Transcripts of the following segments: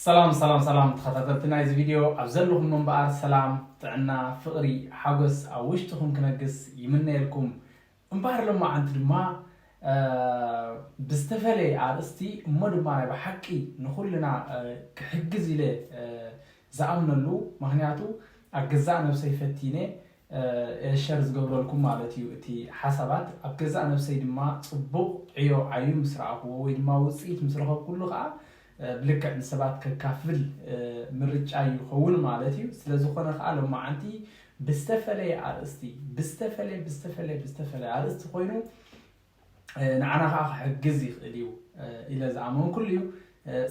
ሰላም ሰላም ሰላም ተኸታተልቲ ናይዚ ቪድዮ ኣብ ዘለኹም እምበኣር ሰላም ጥዕና ፍቕሪ ሓጎስ ኣብ ውሽጥኹም ክነግስ ይምነየልኩም እምበኣር ሎማዓንቲ ድማ ብዝተፈለየ ኣርእስቲ እሞ ድማ ናይ ብሓቂ ንኹልና ክሕግዝ ኢለ ዝኣምነሉ ምኽንያቱ ኣብ ገዛእ ነብሰይ ፈቲነ እየ ሸር ዝገብረልኩም ማለት እዩ እቲ ሓሳባት ኣብ ገዛእ ነብሰይ ድማ ጽቡቕ ዕዮ ዓዩ ምስ ረኣኹዎ ወይ ድማ ውጽኢት ምስ ረኸብኩሉ ከኣ ብልክዕ ንሰባት ከካፍል ምርጫይ ይኸውን ማለት እዩ። ስለዝኾነ ከኣ ሎማዓንቲ ብዝተፈለየ ኣርእስቲ ብዝተፈለየ ብዝተፈለየ ብዝተፈለየ ኣርእስቲ ኮይኑ ንዓና ከኣ ክሕግዝ ይኽእል እዩ ኢለ ዝኣመንኩሉ እዩ።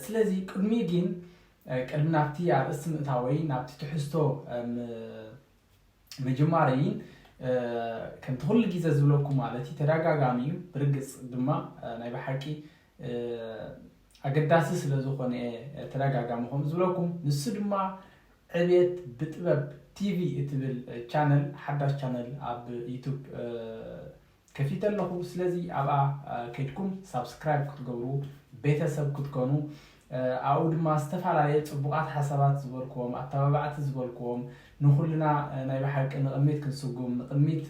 ስለዚ ቅድሚ ግን ቅድሚ ናብቲ ኣርእስቲ ምእታወይ ናብቲ ትሕዝቶ ምጅማረይን ከምቲ ኩሉ ግዜ ዝብለኩም ማለት እዩ ተደጋጋሚ እዩ ብርግጽ ድማ ናይ ብሓቂ ኣገዳሲ ስለ ዝኾነ እየ ተደጋጋሚ ከምኡ ዝብለኩም። ንሱ ድማ ዕቤት ብጥበብ ቲቪ እትብል ቻነል ሓዳሽ ቻነል ኣብ ዩቱብ ከፊተ ኣለኹ። ስለዚ ኣብኣ ከድኩም ሳብስክራይብ ክትገብሩ ቤተሰብ ክትኮኑ ኣብኡ ድማ ዝተፈላለየ ፅቡቓት ሓሳባት ዝበልክዎም ኣተባባዕቲ ዝበልክዎም ንኩልና ናይ ብሓቂ ንቕድሚት ክንስጉም ንቕድሚት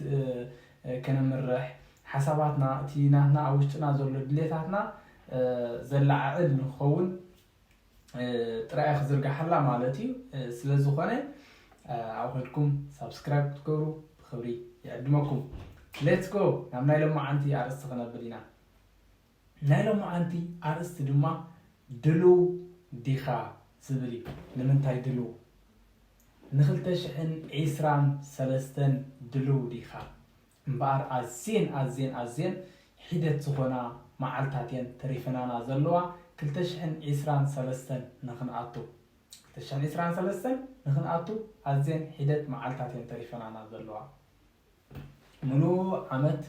ከነምርሕ ሓሳባትና፣ እቲ ናትና ኣብ ውሽጥና ዘሎ ድሌታትና ዘለዓዕል ንክኸውን ጥራይ እያ ክዝርጋሓላ ማለት እዩ። ስለ ዝኾነ ኣብኡ ከድኩም ሳብስክራይብ ክትገብሩ ብክብሪ ይዕድመኩም። ሌትስ ጎ ናብ ናይ ሎማዓንቲ ኣርእስቲ ክነብል ኢና። ናይ ሎማዓንቲ ኣርእስቲ ድማ ድሉው ዲኻ ዝብል እዩ። ንምንታይ ድሉው ንክልተ ሽሕን ዒስራን ሰለስተን ድሉው ዲኻ? እምበኣር ኣዝየን ኣዝየን ኣዝየን ሒደት ዝኾና መዓልታት እየን ተሪፈናና ዘለዋ ክልተ ሽሕን ዒስራን ሰለስተን ንኽንኣቱ። ክልተ ሽሕን ዒስራን ሰለስተን ንኽንኣቱ ኣዝየን ሒደት መዓልታት እየን ተሪፈናና ዘለዋ። ምሉእ ዓመት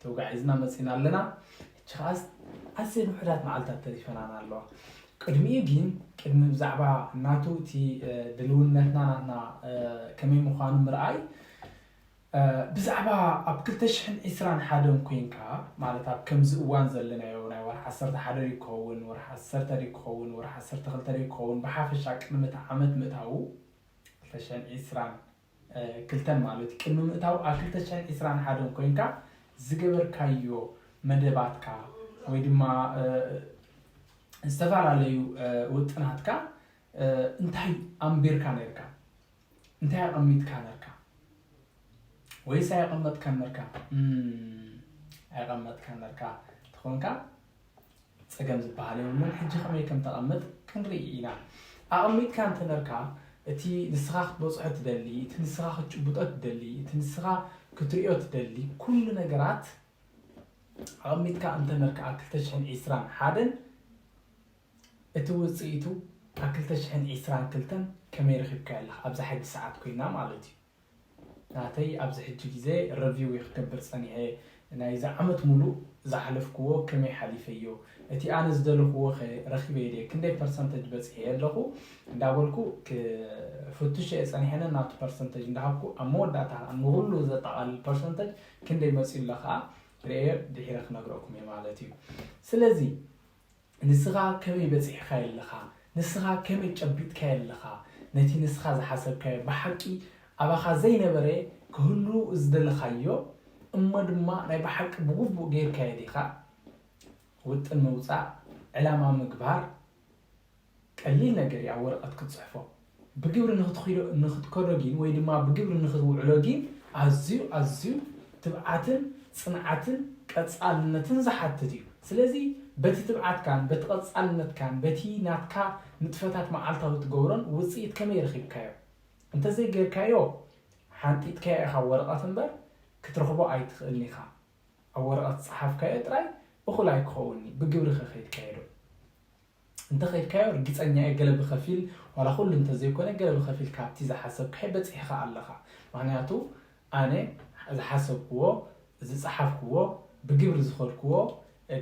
ተጓዒዝና መጺእና ኣለና። ሕጂ ከኣስ ኣዝየን ውሑዳት መዓልታት ተሪፈናና ኣለዋ። ቅድሚኡ ግን ቅድሚ ብዛዕባ ናቱ እቲ ድልውነትና ናትና ከመይ ምዃኑ ምርኣይ ብዛዕባ ኣብ ክልተ ሽሕን ዕስራን ሓደን ኮይንካ ማለት ኣብ ከምዚ እዋን ዘለናዮ ናይ ወርሒ ዓሰርተ ሓደ ድዩ ክኸውን ወርሒ ዓሰርተ ድዩ ክኸውን ወርሒ ዓሰርተ ክልተ ድዩ ክኸውን ብሓፈሻ ቅድሚ እቲ ዓመት ምእታዉ ክልተ ሽሕን ዕስራን ክልተን ማለት እዩ ቅድሚ ምእታዉ ኣብ ክልተ ሽሕን ዕስራን ሓደን ኮይንካ ዝገበርካዮ መደባትካ ወይ ድማ ዝተፈላለዩ ውጥናትካ እንታይ ኣንቢርካ ኔርካ እንታይ ኣቀሚጥካ ነርካ ወይስ ኣይቀመጥካን ነርካ ኣይቀመጥካን ነርካ ተኾንካ ፀገም ዝበሃል የብሉን ሕጂ ከመይ ከም ተቐምጥ ክንርኢ ኢና ኣቐሚጥካ እንተነርካ እቲ ንስኻ ክትበፅሖ ትደሊ እቲ ንስኻ ክትጭብጦ ትደሊ እቲ ንስኻ ክትሪኦ ትደሊ ኩሉ ነገራት ኣቐሚጥካ እንተነርካ ኣብ 221 እቲ ውጽኢቱ ኣብ ክልተ ሽሕን ዒስራን ክልተን ከመይ ረኪብካዮ ኣለካ ኣብዛ ሕጂ ሰዓት ኮይና ማለት እዩ ናተይ ኣብዚ ሕጂ ግዜ ረቪው እዩ ክገብር ጸኒሐ ናይዚ ዓመት ሙሉእ ዝሓለፍክዎ ከመይ ሓሊፈዮ እቲ ኣነ ዝደለክዎ ከ ረኪበዮ ድየ ክንደይ ፐርሰንተጅ በጺሐዮ ኣለኩ እንዳበልኩ ክፍትሾ እየ ጸኒሐ ነናቱ ፐርሰንተጅ እንዳሃብኩ ኣብ መወዳእታ ከኣ ንኩሉ ዘጠቃልል ፐርሰንተጅ ክንደይ መጺኡ ኣሎ ከኣ ርእየ ድሒረ ክነግረኩም እየ ማለት እዩ ስለዚ ንስኻ ከመይ በጺሕካዮ ኣለኻ? ንስኻ ከመይ ጨቢጥካዮ ኣለኻ? ነቲ ንስኻ ዝሓሰብካዮ ብሓቂ ኣባኻ ዘይነበረ ክህሉ ዝደለኻዮ እሞ ድማ ናይ ብሓቂ ብግቡእ ገይርካዮ ዲኻ? ውጥን ምውጻእ፣ ዕላማ ምግባር፣ ቀሊል ነገር እዩ ኣብ ወረቐት ክትጽሕፎ፣ ብግብሪ ንኽትኺዶ ንኽትከዶ ጊን ወይ ድማ ብግብሪ ንኽትውዕሎ ጊን ኣዝዩ ኣዝዩ ትብዓትን ጽንዓትን ቀጻልነትን ዝሓትት እዩ። ስለዚ በቲ ትብዓትካን በቲ ቀጻልነትካን በቲ ናትካ ንጥፈታት መዓልታዊ እትገብሮን ውጽኢት ከመይ ረኺብካዮ? እንተዘይ ጌርካዮ ሓንጢጥካዮ ኢኻ ወረቐት እምበር ክትረኽቦ ኣይትኽእልን ኢኻ። ኣብ ወረቐት ዝጸሓፍካዮ ጥራይ እኹል ኣይክኸውንን'ዩ፣ ብግብሪ ከ ከይድካዮ ዶ? እንተኸድካዮ ርግጸኛ እየ ገለ ብኸፊል ዋላ ኩሉ እንተዘይኮነ ገለ ብኸፊል ካብቲ ዝሓሰብካዮ በጺሕኻ ኣለኻ ምኽንያቱ ኣነ ዝሓሰብክዎ ዝጸሓፍክዎ ብግብሪ ዝኸድክዎ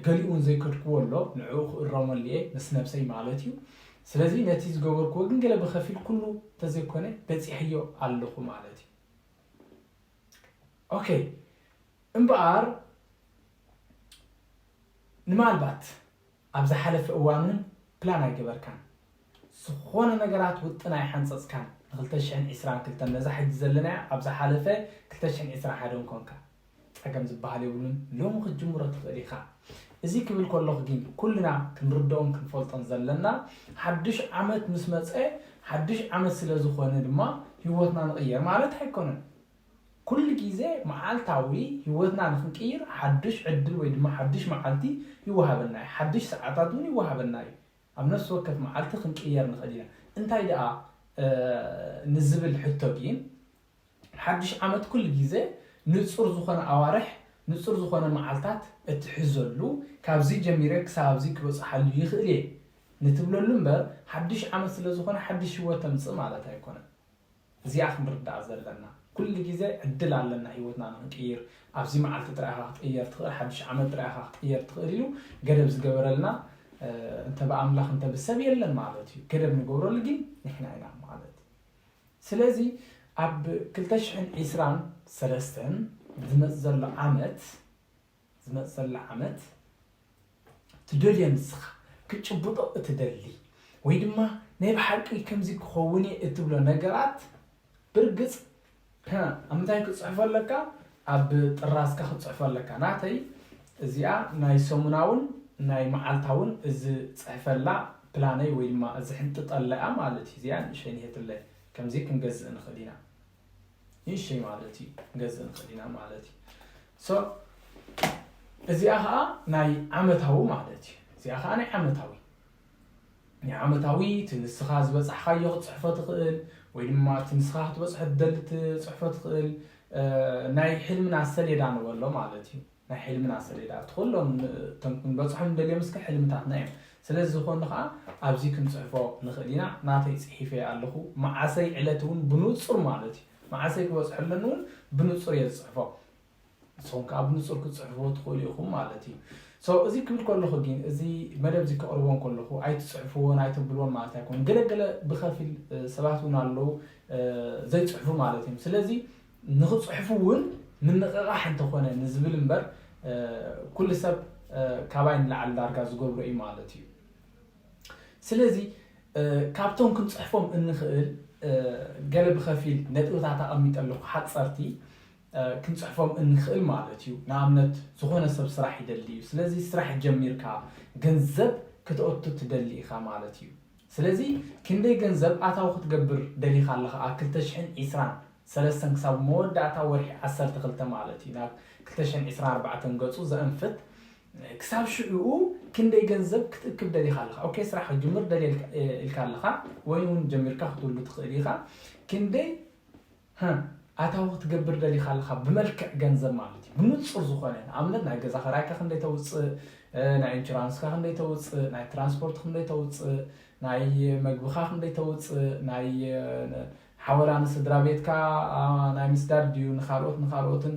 ገሊኡ ውን ዘይከድክዎ ኣሎ ንዕኡ ክእረመሉ እየ ምስ ነብሰይ ማለት እዩ ስለዚ ነቲ ዝገበርክዎ ግን ገለ ብኸፊል ኩሉ እንተዘይኮነ በጺሐዮ ኣለኹ ማለት እዩ ኦኬ እምበኣር ንማልባት ኣብ ዝሓለፈ እዋን ውን ፕላን ኣይገበርካን ዝኾነ ነገራት ውጥን ኣይሓንጸጽካን ን ክልተ ሽሕን ዕስራን ክልተን ነዛ ሕጂ ዘለናያ ኣብ ዝሓለፈ ክልተ ሽሕን ዕስራን ሓደን ኮንካ ጸገም ዝብሃል የብሉን ሎሚ ክትጅምሮ ትኽእል ኢኻ እዚ ክብል ከለኹ ጊን ኩልና ክንርድኦን ክንፈልጦን ዘለና ሓዱሽ ዓመት ምስ መጸ ሓዱሽ ዓመት ስለ ዝኾነ ድማ ሂወትና ንቕይር ማለት ኣይኮነን ኩሉ ግዜ መዓልታዊ ህይወትና ንኽንቅይር ሓዱሽ ዕድል ወይ ድማ ሓዱሽ መዓልቲ ይወሃበና እዩ። ሓዱሽ ሰዓታት እውን ይወሃበና እዩ። ኣብ ነፍሲ ወከፍ መዓልቲ ክንቅየር ንኽእል ኢና። እንታይ ደኣ ንዝብል ሕቶ ግን ሓዱሽ ዓመት ኩሉ ግዜ ንጹር ዝኾነ ኣዋርሕ፣ ንጹር ዝኾነ መዓልታት እትሕዘሉ ካብዚ ጀሚረ ክሳብ ኣብዚ ክበጽሓሉ ይኽእል እየ ንትብለሉ እምበር ሓዱሽ ዓመት ስለዝኾነ ሓዱሽ ህይወት ተምጽእ ማለት ኣይኮነን። እዚኣ ክንርዳኣ ዘለና ኩሉ ግዜ ዕድል ኣለና ሂወትና ንክንቅይር ኣብዚ መዓልቲ ጥራይ ኢኻ ክትቅየር ትኽእል ሓዱሽ ዓመት ጥራይ ኢኻ ክትቅየር ትኽእል ኢሉ ገደብ ዝገበረልና እንተ ብኣምላኽ እንተ ብሰብ የለን ማለት እዩ ገደብ ንገብረሉ ግን ንሕና ኢና ማለት እዩ ስለዚ ኣብ ክልተ ሽሕን ዒስራን ሰለስተን ዝመጽእ ዘሎ ዓመት ዝመጽእላ ዓመት ትደልዮ ንስኻ ክትጭብጦ እትደሊ ወይ ድማ ናይ ብሓቂ ከምዚ ክኸውን እየ እትብሎ ነገራት ብርግጽ ኣብ ምንታይ ክትጽሕፎ ኣለካ ኣብ ጥራዝካ ክትጽሕፎ ኣለካ ናተይ እዚኣ ናይ ሰሙናውን ናይ መዓልታውን ዝጽሕፈላ ፕላነይ ወይ ድማ ዝሕንጥጠላ እያ ማለት እዩ እዚኣ ንእሸይ ንሄትለይ ከምዚ ክንገዝእ ንኽእል ኢና ንእሽተይ ማለት እዩ ክንገዝእ ንኽእል ኢና ማለት እዩ ሶ እዚኣ ከዓ ናይ ዓመታዊ ማለት እዩ እዚኣ ከዓ ናይ ዓመታዊ ናይ ዓመታዊ እቲ ንስኻ ዝበፃሕካዮ ክትፅሕፎ ትኽእል ወይ ድማ እቲ ንስኻ ክትበፅሖ ትደሊ ትፅሕፎ ትኽእል ናይ ሕልምና ሰሌዳ ንበሎ ማለት እዩ ናይ ሕልምና ሰሌዳ ኣብቲ ኩሎም እቶም ክንበጽሖም ንደልዮም እስከ ሕልምታትና እዮም ስለ ዝኾኑ ከኣ ኣብዚ ክንጽሕፎ ንኽእል ኢና ናተይ ጽሒፈዮ ኣለኹ መዓሰይ ዕለት ውን ብኑጹር ማለት እዩ መዓሰይ ክበጽሖ ኣለኒ ውን ብኑጹር እየ ዝጽሕፎ ንስኹም ከኣ ብኑጹር ክትጽሕፍዎ ትኽእሉ ኢኹም ማለት እዩ ሶ እዚ ክብል ከለኹ ግን እዚ መደብ እዚ ከቕርቦን ከለኹ ኣይትጽሕፍዎን ኣይተብልዎን ማለት ኣይኮን ገለገለ ብኸፊል ሰባት ውን ኣለዉ ዘይጽሕፉ ማለት እዮም ስለዚ ንኽጽሕፉ እውን ምንቕቓሕ እንተኾነ ንዝብል እምበር ኩሉ ሰብ ካባይ ንላዕሊ ዳርጋ ዝገብሮ እዩ ማለት እዩ። ስለዚ ካብቶም ክንጽሕፎም እንኽእል ገለ ብኸፊል ነጥብታት ኣቐሚጠ ኣለኹ ሓጸርቲ ክንጽሕፎም እንኽእል ማለት እዩ። ንኣብነት ዝኾነ ሰብ ስራሕ ይደሊ እዩ። ስለዚ ስራሕ ጀሚርካ ገንዘብ ክተእቱ ትደሊ ኢኻ ማለት እዩ። ስለዚ ክንደይ ገንዘብ ኣታዊ ክትገብር ደሊኻ ኣለኻ ኣብ ክልተ ሽሕን ዒስራን ሰለስተን ክሳብ መወዳእታ ወርሒ ዓሰርተ ክልተ ማለት እዩ ናብ ክልተ ሽሕን ዒስራን ኣርባዕተን ገጹ ዘእንፍት ክሳብ ሽዑኡ ክንደይ ገንዘብ ክትእክብ ደሊኻ ኣለኻ ኦኬ ስራሕ ክትጅምር ደልየ ኢልካ ኣለኻ ወይንውን ጀሚርካ ክትውሉ ትኽእል ኢኻ ክንደይ ህ ኣታዊ ክትገብር ደሊካ ኣለካ ብመልክዕ ገንዘብ ማለት እዩ ብኑጹር ዝኮነ ንኣብነት ናይ ገዛ ከራይካ ክንደይ ተውጽእ ናይ ኢንቹራንስካ ክንደይ ተውጽእ ናይ ትራንስፖርት ክንደይ ተውጽእ ናይ መግብካ ክንደይ ተውጽእ ናይ ሓወላ ንስድራቤትካ ናይ ምስዳድ ድዩ ንካልኦት ንካልኦትን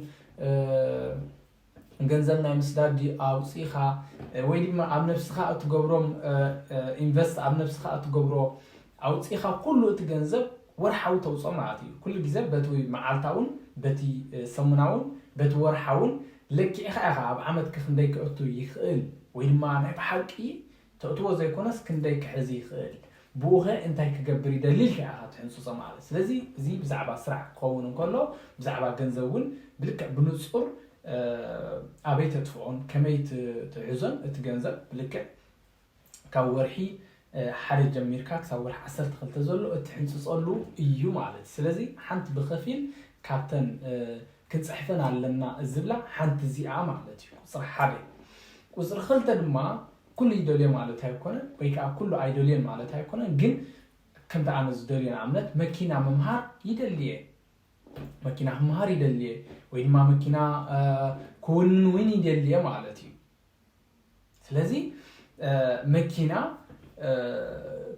ገንዘብ ናይ ምስዳድ ድዩ ኣውጺኻ ወይ ድማ ኣብ ነብስኻ እትገብሮም ኢንቨስት ኣብ ነብስኻ እትገብሮ ኣውጺኻ ኩሉ እቲ ገንዘብ ወርሓዊ ተውጽኦ ማለት እዩ ኩሉ ግዜ በቲ መዓልታውን በቲ ሰሙናውን በቲ ወርሓውን ለኪዕኻ ኢኻ ኣብ ዓመት ክንደይ ክእቱ ይኽእል ወይ ድማ ናይ ብሓቂ ተእትዎ ዘይኮነስ ክንደይ ክሕዝ ይኽእል ብኡኸ እንታይ ክገብር ይደሊ ኢልካ ኢኻ ትሕንጽጾ ማለት ስለዚ እዚ ብዛዕባ ስራሕ ክኸውን እንከሎ ብዛዕባ ገንዘብ እውን ብልክዕ ብንጹር ኣበይ ተጥፍኦን ከመይ ትሕዞን እቲ ገንዘብ ብልክዕ ካብ ወርሒ ሓደ ጀሚርካ ክሳብ ወርሒ ዓሰርተ ክልተ ዘሎ እትሕንጽጸሉ እዩ ማለት ስለዚ ሓንቲ ብኸፊል ካብተን ክጽሕፈን ኣለና ዝብላ ሓንቲ እዚኣ ማለት እዩ ቁጽሪ ሓደ። ቁጽሪ ክልተ ድማ ኩሉ ይደልዮ ማለት ኣይኮነን ወይ ከኣ ኩሉ ኣይደልዮን ማለት ኣይኮነን ግን ከምቲ ኣነ ዝደልዮ ንኣብነት መኪና ምምሃር ይደልየ መኪና ክምሃር ይደልየ ወይ ድማ መኪና ክውንን እውን ይደልየ ማለት እዩ። ስለዚ መኪና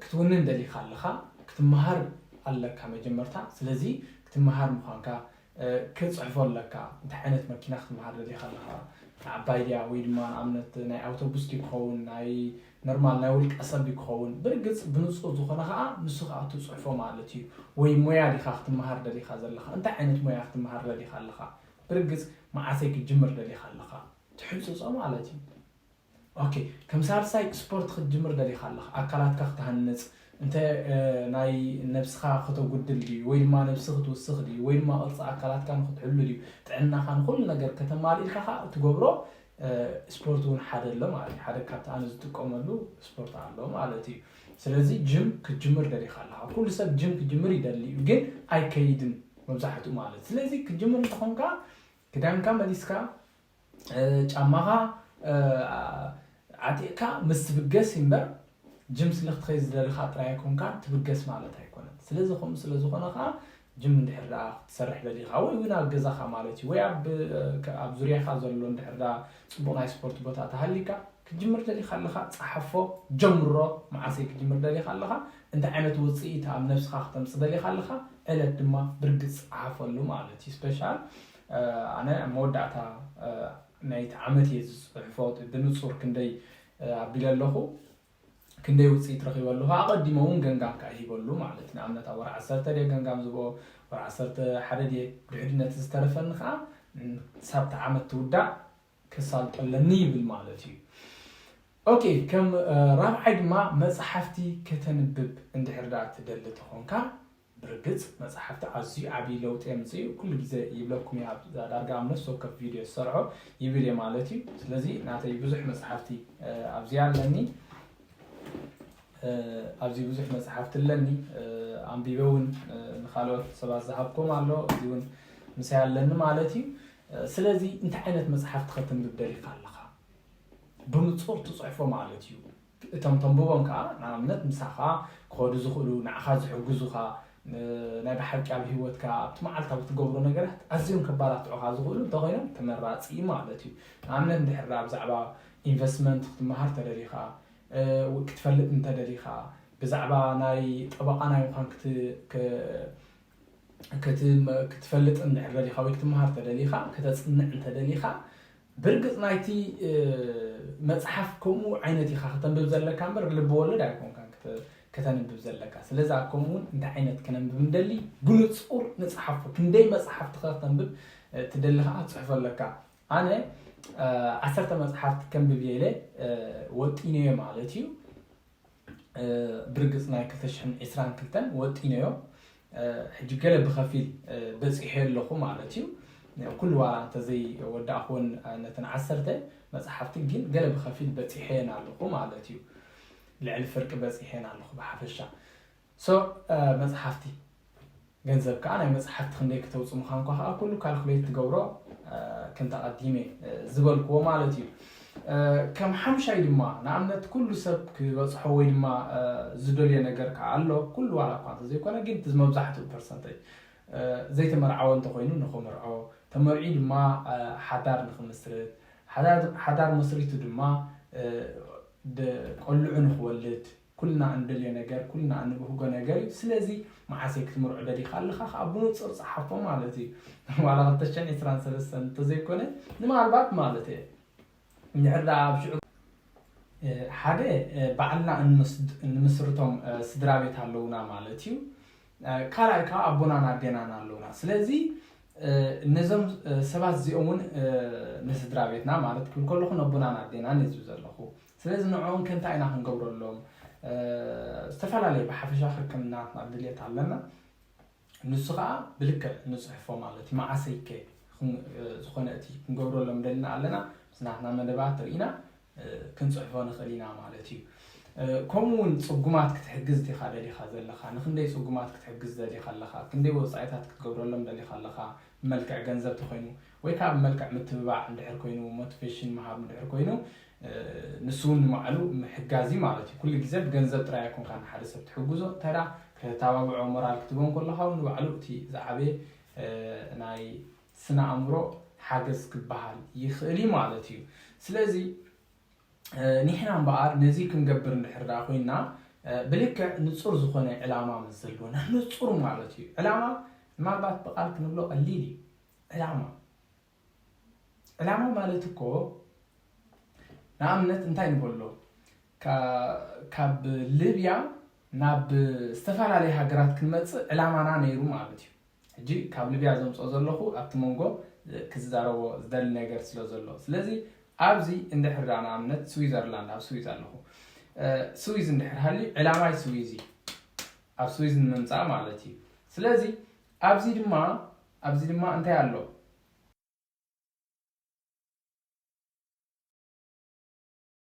ክትውንን ደሊኻ ኣለኻ ክትመሃር ኣለካ መጀመርታ ስለዚ ክትመሃር ምዃንካ ክትፅሕፎ ኣለካ እንታይ ዓይነት መኪና ክትመሃር ደሊኻ ኣለኻ ንዓባይ ድያ ወይ ድማ ንኣብነት ናይ ኣውቶቡስ ድዩ ክኸውን ናይ ኖርማል ናይ ውልቀ ሰብ ድዩ ክኸውን ብርግፅ ብንፁር ዝኾነ ከዓ ንሱ ከዓ ትፅሕፎ ማለት እዩ ወይ ሞያ ዲኻ ክትመሃር ደሊኻ ዘለኻ እንታይ ዓይነት ሞያ ክትመሃር ደሊኻ ኣለኻ ብርግፅ መዓሰይ ክትጅምር ደሊኻ ኣለኻ ትሕጽጾ ማለት እዩ ኦኬ ከም ሳልሳይ ስፖርት ክትጅምር ደሊካ ኣለካ ኣካላትካ ክትሃንጽ እንተ ናይ ነብስካ ከተጉድል ድዩ ወይ ድማ ነብሲ ክትውስክ ድዩ ወይ ድማ ቅርጺ ኣካላትካ ንክትሕሉ ድዩ ጥዕናካ ንኩሉ ነገር ከተማሊልካ ከኣ እትገብሮ ስፖርት እውን ሓደ ኣሎ ማለት እዩ ሓደ ካብቲ ኣነ ዝጥቀመሉ ስፖርት ኣሎ ማለት እዩ ስለዚ ጅም ክትጅምር ደሊካ ኣለካ ኩሉ ሰብ ጅም ክጅምር ይደሊ እዩ ግን ኣይከይድን መብዛሕትኡ ማለት ስለዚ ክትጅምር እንተኾንካ ክዳንካ መሊስካ ጫማኻ ዓጢቕካ ምስ ትብገስ እምበር ጅም ስለ ክትኸይድ ዝደለኻ ጥራይ ኣይኮንካን ትብገስ ማለት ኣይኮነን። ስለዚ ከምኡ ስለ ዝኾነ ከኣ ጅም እንድሕር ደኣ ክትሰርሕ ደሊኻ ወይ እውን ኣብ ገዛኻ ማለት እዩ ወይ ኣብ ኣብ ዙርያኻ ዘሎ እንድሕር ደኣ ጽቡቕ ናይ ስፖርት ቦታ ተሃሊካ ክትጅምር ደሊኻ ኣለኻ ጸሓፎ ጀምሮ መዓሰይ ክትጅምር ደሊኻ ኣለኻ እንታይ ዓይነት ውጽኢት ኣብ ነብስኻ ክተምጽእ ደሊኻ ኣለኻ ዕለት ድማ ብርግጽ ጸሓፈሉ ማለት እዩ ስፔሻል ኣነ ኣብ መወዳእታ ናይቲ ዓመት እየ ዝጽሕፎ ብንጹር ክንደይ ኣቢለ ኣለኹ ክንደይ ውፅኢት ረኺበ ኣለኹ ኣቐዲሞ እውን ገምጋም ከዓ ይሂበሉ ማለት ንኣብነት ኣብ ወር ዓሰርተ ድየ ገምጋም ዝብኦ ወር ዓሰርተ ሓደ ድየ ድሕሪ ነቲ ዝተረፈኒ ከዓ ሳብቲ ዓመት ትውዳእ ከሳልጦ ኣለኒ ይብል ማለት እዩ። ኦኬ ከም ራብዓይ ድማ መጽሓፍቲ ከተንብብ እንድሕር ደኣ ትደሊ ተኾንካ ብርግጽ መጽሓፍቲ ኣዝዩ ዓብዪ ለውጢ የምጽእ ኩሉ ግዜ ይብለኩም እየ ኣብ ዳርጋ ኣብ ነፍሲ ወከፍ ቪድዮ ዝሰርዖ ይብል እየ ማለት እዩ። ስለዚ ናተይ ብዙሕ መጽሓፍቲ ኣብዚኣ ኣለኒ። ኣብዚ ብዙሕ መጽሓፍቲ ኣለኒ ኣንቢበ ውን ንካልኦት ሰባት ዝሃብኩም ኣሎ እዚ ውን ምሳይ ኣለኒ ማለት እዩ ስለዚ እንታይ ዓይነት መጽሓፍቲ ከተንብብ ደሊካ ኣለካ ብምጹር ትጽሕፎ ማለት እዩ እቶም ተንብቦም ከዓ ንኣብነት ምሳኻ ክኸዱ ዝኽእሉ ንዓኻ ዝሕግዙኻ ናይ ብሓቂ ኣብ ሂወትካ ኣብቲ መዓልታዊ ትገብሮ ነገራት ኣዝዮም ከባላትዑኻ ዝኽእሉ እንተኾይኖም ተመራፂ ማለት እዩ ንኣብነት እንድሕር ብዛዕባ ኢንቨስትመንት ክትመሃር ተደሊኻ ክትፈልጥ እንተ ደሊኻ ብዛዕባ ናይ ጠበቓ ናይ ምዃን ክትፈልጥ እንድሕር ደሊኻ ወይ ክትመሃር ተደሊኻ ከተጽንዕ እንተ ደሊኻ ብርግጽ ናይቲ መጽሓፍ ከምኡ ዓይነት ኢኻ ከተንብብ ዘለካ እምበር ልቢ ወለድ ኣይኮንካን ከተንብብ ዘለካ ስለዚ ከምኡውን እንታይ ዓይነት ከነንብብ እንደሊ ብንጹር ንጽሓፎ ክንደይ መጽሓፍቲ ከተንብብ ትደሊ ከዓ ትጽሕፎ ኣለካ ኣነ ዓሰርተ መጽሓፍቲ ከንብብ ኢለ ወጢነዮ ማለት እዩ ብርግጽ ናይ ክልተ ሽሕን ዕስራን ክልተን ወጢነዮ ሕጂ ገለ ብኸፊል በጺሐዮ ኣለኹ ማለት እዩ ኩሉ ዋላ እንተዘይወዳእኹወን ነተን ዓሰርተ መጽሓፍቲ ግን ገለ ብኸፊል በጺሐየን ኣለኹ ማለት እዩ ልዕሊ ፍርቂ በጺሐየን ኣለኹ ብሓፈሻ so መጽሓፍቲ ገንዘብ ከኣ ናይ መጽሓፍቲ ክንደይ ክተውጽ ምዃንኳ ከኣ ኩሉ ካልኩሌት ትገብሮ ከምቲ ኣቐዲመ ዝበልክዎ ማለት እዩ ከም ሓምሻይ ድማ ንኣብነት ኩሉ ሰብ ክበጽሖ ወይ ድማ ዝደልዮ ነገር ከኣ ኣሎ ኩሉ ዋላ እኳ እንተዘይኮነ ግን እቲ መብዛሕትኡ ፐርሰንተጅ ዘይተመርዓወ እንተኮይኑ ንክምርዖ ተመርዒ ድማ ሓዳር ንክምስርት ሓዳር መስሪቱ ድማ ቆልዑ ንክወልድ ኩልና እንደልዮ ነገር ኩልና እንብህጎ ነገር እዩ ስለዚ መዓሰይ ክትምርዖ ደሊካ ኣለካ ከኣ ብኑጹር ጸሓፎ ማለት እዩ ዋላ ክልተ ሽሕን ዕስራን ሰለስተን እንተዘይኮነ ንማልባት ማለት እየ እንድሕር ደኣ ኣብ ሽዑ ሓደ ባዕልና እንምስርቶም ስድራቤት ኣለውና ማለት እዩ ካልኣይ ከዓ ኣቦናን ኣዴናን ኣለውና ስለዚ ነዞም ሰባት እዚኦም እውን ንስድራ ቤትና ማለት ክብል ከለኹ ነቦናን ኣዴናን እዩ ዝብ ዘለኹ ስለዚ ንዕኡም ከ እንታይ ኢና ክንገብረሎም? ዝተፈላለየ ብሓፈሻ ክክም ናትና ድልየት ኣለና። ንሱ ከኣ ብልክዕ ንጽሕፎ ማለት እዩ። መዓሰይ ከ ዝኾነ እቲ ክንገብረሎም ደልና ኣለና ምስ ናትና መደባት ርኢና ክንጽሕፎ ንኽእል ኢና ማለት እዩ። ከምኡ እውን ጽጉማት ክትሕግዝ ዲኻ ደሊኻ ዘለኻ? ንክንደይ ጽጉማት ክትሕግዝ ደሊኻ ኣለኻ? ክንደይ ወጻኢታት ክትገብረሎም ደሊኻ ኣለኻ? ብመልክዕ ገንዘብ ተኾይኑ ወይ ከኣ ብመልክዕ ምትብባዕ እንድሕር ኮይኑ፣ ሞትቨሽን ምሃብ እንድሕር ኮይኑ፣ ንሱ ውን ንባዕሉ ምሕጋዝ እዩ ማለት እዩ። ኩሉ ግዜ ብገንዘብ ጥራይ ኣይኮንካን ንሓደ ሰብ ትሕግዞ፣ እንታይ ደኣ ክተተባብዖ፣ ሞራል ክትህቦ እንከሎኻ ውን ንባዕሉ እቲ ዝዓበየ ናይ ስነ-ኣእምሮ ሓገዝ ክበሃል ይኽእል እዩ ማለት እዩ። ስለዚ ኒሕና እምበኣር ነዚ ክንገብር እንድሕር ደኣ ኮይንና ብልክዕ ንጹር ዝኾነ ዕላማ ምስ ዘሎና፣ ንጹር ማለት እዩ ዕላማ ምናልባት ብቃል ክንብሎ ቀሊል እዩ፣ ዕላማ ዕላማ ማለት እኮ ንኣብነት እንታይ ንበሎ ካብ ልብያ ናብ ዝተፈላለዩ ሃገራት ክንመፅእ ዕላማና ነይሩ ማለት እዩ ሕጂ ካብ ልብያ ዘምፆ ዘለኹ ኣብቲ መንጎ ክዛረቦ ዝደሊ ነገር ስለ ዘሎ ስለዚ ኣብዚ እንድሕር ዳ ንኣብነት ስዊዘርላንድ ኣብ ስዊዝ ኣለኹ ስዊዝ እንድሕር ሃሊ ዕላማይ ስዊዝ እዩ ኣብ ስዊዝ ንምምፃእ ማለት እዩ ስለዚ ኣብዚ ድማ ኣብዚ ድማ እንታይ ኣሎ?